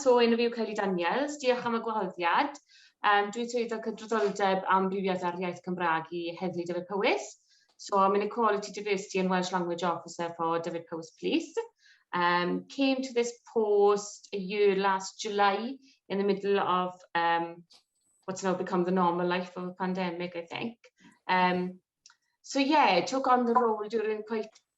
So, enw fi yw Kylie Daniels, diolch am y gwahoddiad. Um, dwi'n swyddog cydraddoldeb amrywiaeth ar iaith Cymraeg i Heddlu Dyfed Powys. So, I'm an Equality Diversity and Welsh Language Officer for Dyfed Powys Police. Um, came to this post a year last July in the middle of um, what's now become the normal life of a pandemic, I think. Um, so yeah, took on the role during quite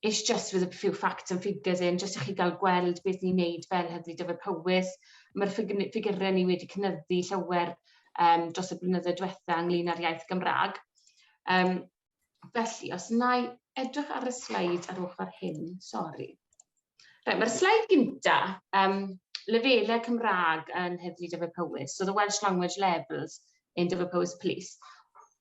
It's just with a few facts and figures in, jyst i chi gael gweld beth ni'n neud fel Heddlu Dyfed Powys. Mae'r ffigurau ni wedi cynyddu llawer um, dros y blynyddoedd diwetha ynglyn â'r iaith Gymraeg. Um, felly, os na i edrych ar y sleid ar ochr hyn, sori. Right, Mae'r sleid gynta, um, lefelau Cymraeg yn Heddlu Dyfed Powys, so the Welsh Language Levels in Dyfed Powys Police.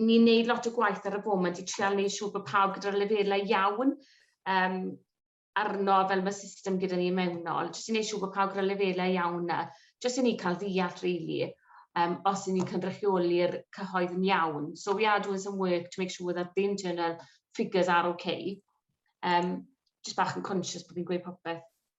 ni'n neud lot o gwaith ar y foment i trial neud siŵr bod pawb gyda'r lefelau iawn um, arno fel mae system gyda ni mewnol, jyst i neud siŵr bod pawb gyda'r lefelau iawn na, jyst i ni cael ddeall really, um, os i ni'n cynrychioli'r cyhoedd yn iawn. So we are doing some work to make sure that the internal figures are okay. Um, just bach yn conscious bod fi'n gweud popeth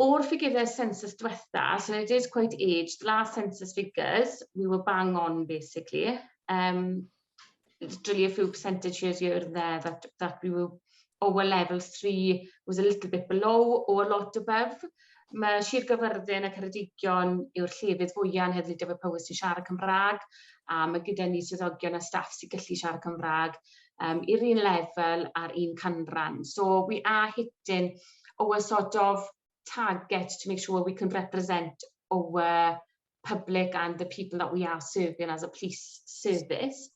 O'r ffigyre census dwetha, so I did quite age, the last census figures, we were bang on basically. Um, it's really a few percentage years here and there that, that we were, our level 3 was a little bit below or a lot above. Mae Sir Gyfyrddin a Ceredigion yw'r llefydd fwyaf yn heddlu dyfod Powys sy'n siarad Cymraeg, a mae gyda ni swyddogion a staff sy'n gallu siarad Cymraeg, um, i'r un lefel a'r un canran. So we are hitting our sort of target to make sure we can represent our public and the people that we are serving as a police service.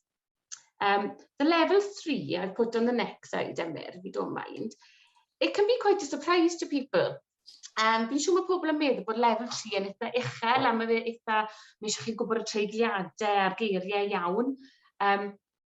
Um, the level three, I've put on the next side, Emyr, if you don't mind, it can be quite a surprise to people. Um, fi'n siŵr mae pobl yn meddwl bod level 3 yn eitha uchel a mae fe eitha, mae eisiau chi gwybod y treigliadau a'r geiriau iawn. Um,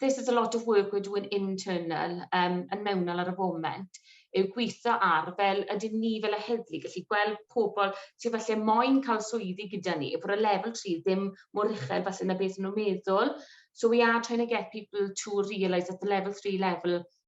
this is a lot of work we're doing internal, um, yn mewnol ar y foment, yw gweithio ar fel ydyn ni fel y heddlu gallu gweld pobl sydd falle moyn cael swyddi gyda ni, bod y lefel 3 ddim mor uchel falle na beth nhw'n meddwl. So we are trying to get people to realise that the level 3 level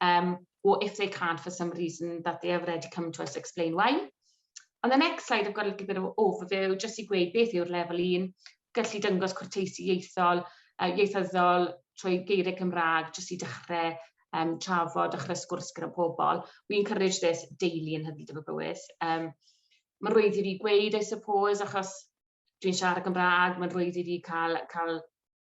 Um, or if they can't for some reason that they have already come to us explain why. On the next slide, I've got a little bit of an overview, just i gweud beth yw'r lefel 1, gallu dyngos cwrteisi ieithol, uh, ieithyddol trwy geiriau Cymraeg, jyst i dechrau um, trafod, dechrau sgwrs gyda pobl. We encourage this daily yn hynny dyfod bywyd. Um, mae'n rwydd i fi gweud, I suppose, achos dwi'n siarad Gymraeg, mae'n rwydd i fi cael, cael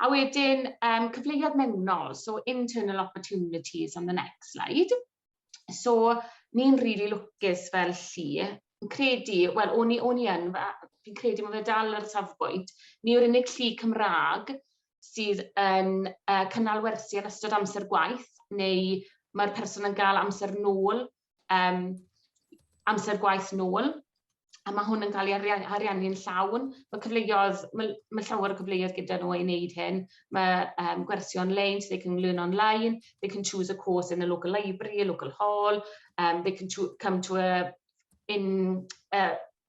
A wedyn, um, cyfleoedd mewnol, so internal opportunities on the next slide. So, ni'n rili really lwcus fel llu, yn credu, wel, o'n i, o'n i yn, fi'n credu mae fe dal ar y safbwynt, ni yw'r unig llu Cymraeg sydd yn uh, cynnal wersi yn ystod amser gwaith, neu mae'r person yn gael amser nôl um, amser gwaith nôl, a mae hwn yn cael ei ariannu'n llawn. Mae cyfleoedd, mae, mae llawer o cyfleoedd gyda nhw i wneud hyn. Mae um, gwersi on-line, so they can learn online, they can choose a course in the local library, a local hall, um, they can come to a, in, a,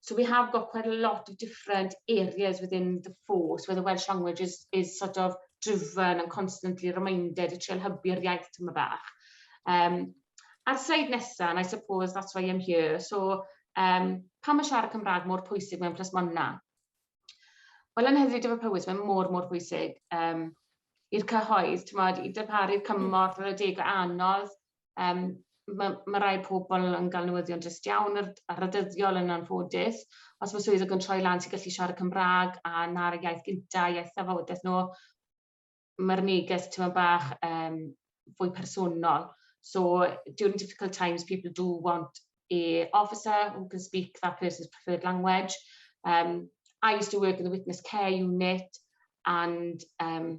So we have got quite a lot of different areas within the force where the Welsh language is, is sort of driven and constantly reminded, y trial hybu'r iaith tyma bach. Um, a'r sleid nesaf, and I suppose that's why I'm here, so um, pa mae siarad Cymraeg mor pwysig mewn plasmonna? Wel, yn hyfryd efo Powys, mae'n mor, mor pwysig um, i'r cyhoedd, ti'n modd, i darparu'r cymorth ar y deg o anodd, Yym ma' ma' rai pobol yn ga'l newyddion drist iawn ar ar y dyddiol yn anffodus. Os ma' swyddog yn troi lan ti gallu siarad Cymra'g a 'na'r iaith gynta iaith thafodes n'w. Ma'r neges t'mod bach yym fwy personol. So during difficult times people do want a officer who can speak that person's preferred language yym I used to work in the witness care unit and yym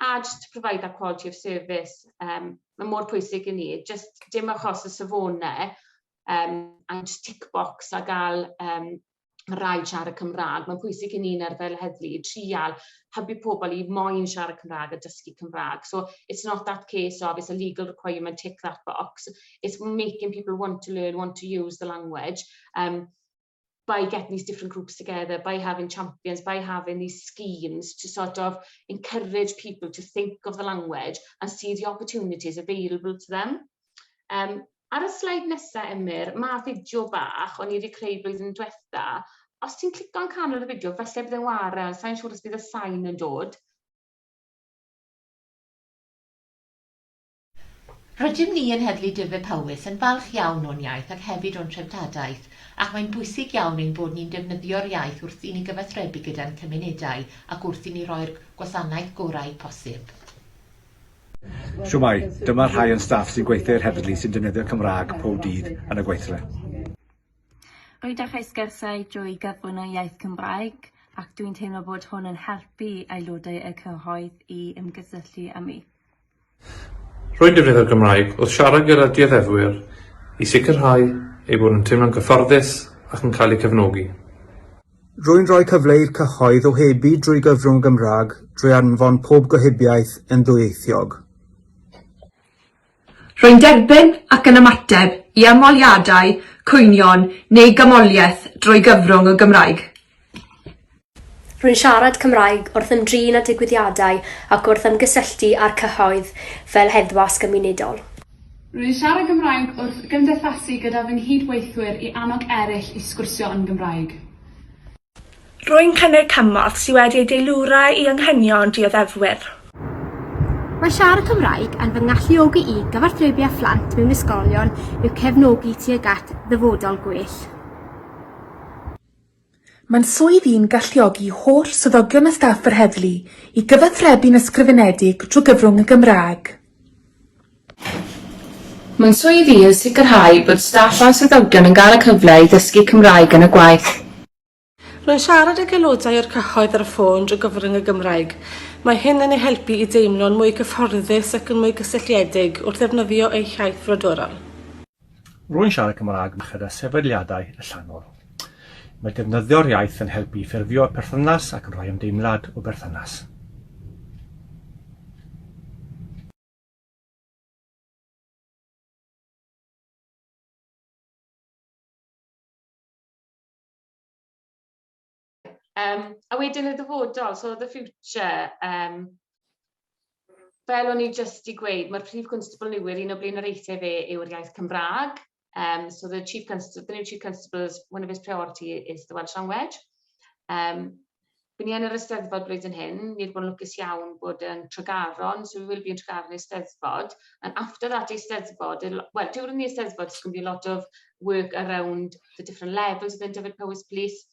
a just to provide that quality of service um, mae mor pwysig i ni, just dim achos y safonau um, a just tick box a gael um, rai siarad Cymraeg. Mae'n pwysig i ni'n ar fel heddlu i trial hybu pobl i moyn siarad Cymraeg a dysgu Cymraeg. So it's not that case of it's a legal requirement, tick that box. It's making people want to learn, want to use the language. Um, by getting these different groups together, by having champions, by having these schemes to sort of encourage people to think of the language and see the opportunities available to them. Um, ar y sleid nesaf, Emyr, mae fideo bach o'n i wedi creu blwyddyn diwetha. Os ti'n clico'n canol y fideo, felly bydd e'n wara, sa'n siŵr os bydd y sain yn dod. Rydym ni yn Heddlu Dyfed-Powys yn falch iawn o'n iaith ac hefyd o'n treftadaeth, ac mae'n bwysig iawn ein bod ni'n defnyddio'r iaith wrth i ni gyfathrebu gyda'n cymunedau ac wrth i ni roi'r gwasanaeth gorau posib. Shwmae, dyma rhai o'n staff sy'n gweithio i'r heddlu sy'n defnyddio'r Cymraeg pob dydd yn y gweithle. Rwy'n dechrau sgyrsiau drwy gyflwyno iaith Cymraeg ac dwi'n teimlo bod hwn yn helpu aelodau y cyhoedd i ymgysylltu â mi. Rwy'n defnyddio'r Gymraeg wrth siarad gyda dioddefwyr i sicrhau eu bod nhw'n teimlo'n gyfforddus ac yn cael eu cefnogi. Rwy'n rhoi cyfle i'r cyhoedd ohebu drwy gyfrwng y Gymraeg drwy anfon pob gohebiaeth yn ddwyieithog. Rwy'n derbyn ac yn ymateb i ymholiadau, cwynion neu gymholiaeth drwy gyfrwng y Gymraeg. Rwy'n siarad Cymraeg wrth ymdrin â digwyddiadau ac wrth ymgysylltu â'r cyhoedd fel heddwas gymunedol. Rwy'n siarad Cymraeg wrth gymdeithasu gyda fy nghyd-weithwyr i annog eraill i sgwrsio yn Gymraeg. Rwy'n cynnig cymorth sydd wedi ei deilwra i anghenion dioddefwyr. Mae siarad Cymraeg yn fy ngalluogi i gyfathrebu â phlant mewn ysgolion i'w cefnogi tuag at ddyfodol gwell. Mae'n swydd i'n galluogi holl swyddogion a staff yr heddlu i gyfathrebu'n ysgrifenedig drwy gyfrwng y Gymraeg. Mae'n swydd i yn sicrhau bod staff a swyddogion yn cael y cyfle i ddysgu Cymraeg yn y gwaith. Rwy'n siarad ag aelodau o'r cyhoedd ar y ffôn drwy gyfrwng y Gymraeg. Mae hyn yn eu helpu i deimlo'n mwy cyfforddus ac yn mwy cysylltiedig wrth ddefnyddio eu hiaith frodorol. Rwy'n siarad Cymraeg merched a sefydliadau allanol. Mae defnyddio'r iaith yn helpu i ffurfio perthynas ac yn rhoi ymdeimlad o berthynas. Um, a wedyn y dyfodol, so the future, um, fel o'n i jyst i gweud, mae'r Prif Constable Newydd, un o blaenoriaethau fe yw'r iaith Cymraeg. Um, so the Chief Constable, the new Chief Constable's, one of his priority is the Welsh language. Um, Byn ni yn yr ysteddfod blwyddyn hyn, ni wedi bod yn lwcus iawn bod yn Tregaron, so we will be yn Tregaron yn ysteddfod. And after that ysteddfod, well, during the ysteddfod, there's going to be a lot of work around the different levels within Dyfed Powys Police,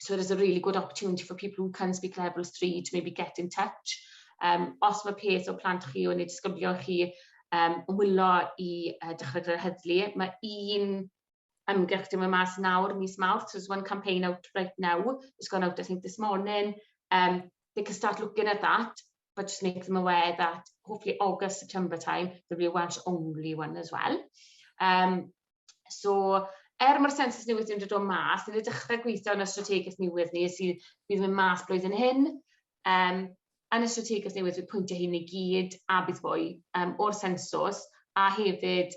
So it is a really good opportunity for people who can speak level 3 to maybe get in touch. Um, os mae peth o plant chi o'n ei disgybio chi um, wylo i uh, dechrau gyda'r heddlu, mae un ymgyrch dim y mas nawr, mis mawrth, so there's one campaign out right now, it's gone out I think this morning, um, they can start looking at that, but just make them aware that hopefully August, September time, there'll be a Welsh only one as well. Um, so, er mae'r sensus newydd yn dod o mas, ni'n dechrau gweithio yn y strategaeth newydd ni sydd bydd yn mas blwyddyn hyn. Um, yn y strategaeth newydd bydd pwyntiau hyn i gyd a bydd fwy um, o'r sensus a hefyd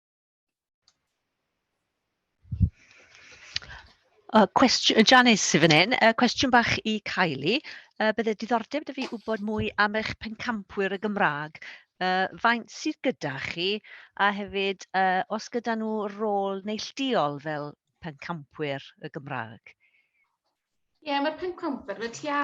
Uh, cwestiwn, Janice sydd fan hyn, uh, cwestiwn bach i Kylie. Uh, bydde diddordeb da fi wybod mwy am eich pencampwyr y Gymraeg. Uh, faint sydd gyda chi a hefyd uh, os gyda nhw rôl neillduol fel pencampwyr y Gymraeg? Ie, yeah, mae'r pencampwyr, mae tua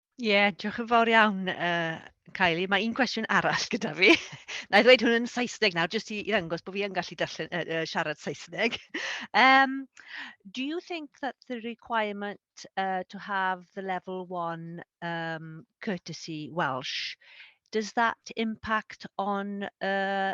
Ie, diolch yn fawr iawn, yy, Kylie. Mae un cwestiwn arall gyda fi. Wna i ddweud hwn yn Saesneg nawr, jyst i i ddangos bod fi yn gallu darllen, yy, yy, siarad Saesneg. Um, do you think that the requirement uh, to have the level one um, courtesy Welsh, does that impact on uh,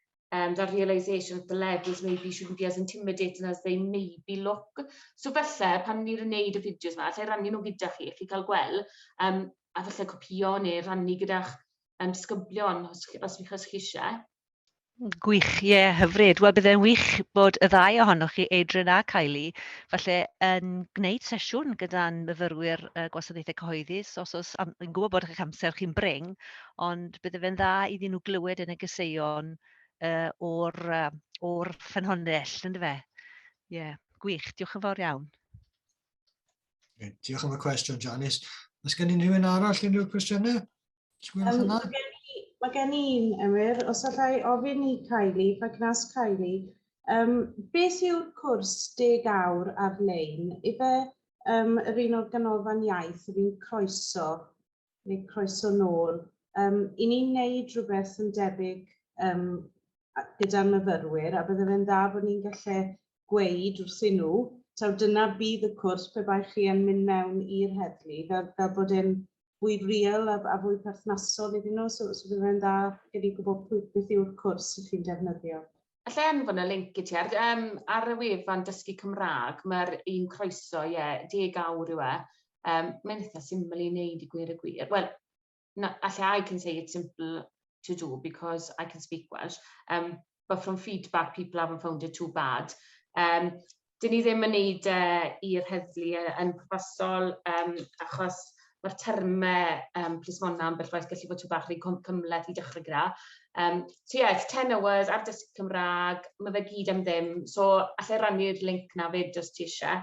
um, that realisation that the levels maybe shouldn't be as intimidating as they maybe look. So felly, pan ni'n gwneud y fideos yma, allai rannu nhw gyda chi, chi cael gweld, um, a felly copio neu rannu gyda'ch um, sgyblion os, os, os, os chi eisiau. Gwych, ie, yeah, hyfryd. Wel, byddai'n wych bod y ddau ohonoch chi, Adrian a Kylie, falle yn gwneud sesiwn gyda'n myfyrwyr uh, gwasanaethau cyhoeddus, os oes, am, yn gwybod bod eich amser chi'n bring, ond bydde fe'n dda iddyn nhw glywed yn y gyseion uh, o'r, uh, or ffynhonnell, ynddo fe? Ie, yeah. gwych, diolch yn fawr iawn. Okay, diolch am y cwestiwn, Janice. Os gen i rhywun arall unrhyw cwestiynau? Um, mae gen i'n emyr, os allai ofyn i Kylie, if I can ask Kylie, um, beth yw'r cwrs deg awr ar-lein? Ife um, yr un o'r ganolfan iaith yr un croeso neu croeso nôl. Yym, i ni'n neud rhywbeth yn debyg um, gyda'n myfyrwyr, a bydde fe'n dda bod ni'n gallu gweud wrthyn nhw, taw dyna bydd y cwrs pe bai chi yn mynd mewn i'r heddlu, fel, fel bod e'n fwy real a, a fwy perthnasol iddyn nhw, so, so bydd e'n dda gen i gwybod pwy beth yw'r cwrs ydych chi'n defnyddio. Alla i anfon y link i ti ar yym ar y wefan Dysgu Cymraeg mae'r un croeso ie deg awr yw e. Yym mae'n eitha syml i wneud i gwir y gwir. Wel na alla I can say it's simple to do because I can speak Welsh. Um, but from feedback people haven't found it too bad. Um, dyn ni ddim yn neud e i'r heddlu yy yn pwrpasol yym achos ma'r terme yym plismona ambell waith gallu bod tŷ bach rhy cwm- cymhleth i dechre gyda. Yym so ie it's ten hours ar dysgu Cymra'g, ma' fe gyd am ddim so allai rannu'r linc 'na 'fyd os ti isie.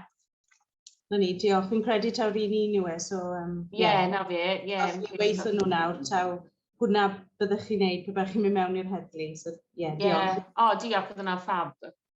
Na ni diolch fi'n credu taw ry'n ni'n yw e so yym ie. Ie 'na fe ie. Os chi'n gweitho nw nawr taw hwnna byddech chi'n neud pe bai chi'n myn' mewn i'r heddlu so ie diolch. Ie o diolch o'dd wnna'n ffab.